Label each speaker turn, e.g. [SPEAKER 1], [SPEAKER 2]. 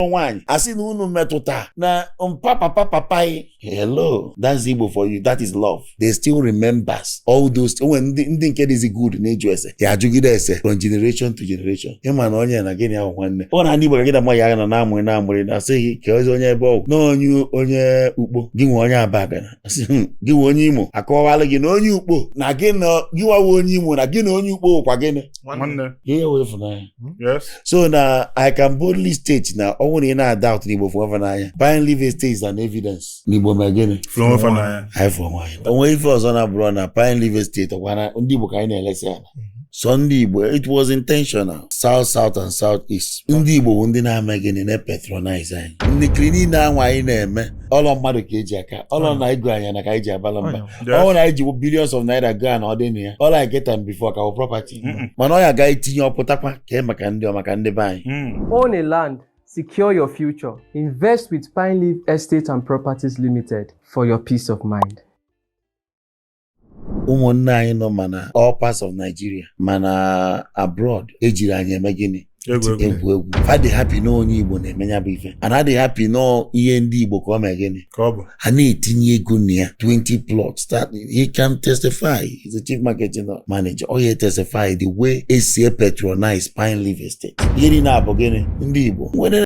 [SPEAKER 1] kpọọ nwaanyị a sị na unu metụta na mpa papa papa anyị hello that's Igbo for you that is love they still remembers all those onwe ndị nke dịzi good n'ịjụ ese ha ajụgide ese from generation to generation ịma na onye na gịnị ahụ nwanne ọ na ndị Igbo ka gị na mma ya agha na na-amụrị na-amụrị na asị gị ka ozi onye ebe ọ wụ na onye onye Ukpo gị nwe onye Abagana Hmm, gị wụ onye Imo akọwala gị na onye Ukpo na gị na gị nwa wụ onye Imo na gị na onye Ukpo kwa gịnị ihe wụ ịfụnanya hmm? so na I can boldly state na ọ bụrụ na ị na-adoubt na Igbo fụọ fa n'anya Pine Leaf Estate is an evidence na Igbo ma gịnị anyị fụrụ onwe anyị onwe ife ọzọ na-abụrụ na Pine Leaf Estate ọkwa na ndị Igbo ka anyị na-elesi ala sọ ndị Igbo it was intentional south south and south east ndị Igbo bụ ndị na-eme gịnị na-epatronize anyị ndị kiri niile anwa anyị na-eme ọlọ mmadụ ka eji aka ọlọ na ego anyị nwa ka anyị ji agbala mbọ ọlọ na anyị ji billions of naira go na ọ dị na ya ọlọ I get am before ka wụ property mana ọ ya a ga-etinye ọ pụtakwa ka e maka ndị ọ maka ndị be anyị mm. own a
[SPEAKER 2] land secure your future invest with Pine Leaf Estate and Properties Limited for your peace of mind
[SPEAKER 1] ụmụnne anyị nọ ma na all parts of Nigeria ma na abroad ejirọ anyị eme gịnị egwu egwu fa dị happy na onye Igbo na-eme ya bụ ife a na-adị happy na ihe ndị Igbo ka ọ mee gịnị a na-etinye ego na ya 20 plots he can testify he's the chief marketing manager ọ ya testify the way e si epatronize Pine Leaf Estate ihe niile abụ gịnị ndị Igbo nwere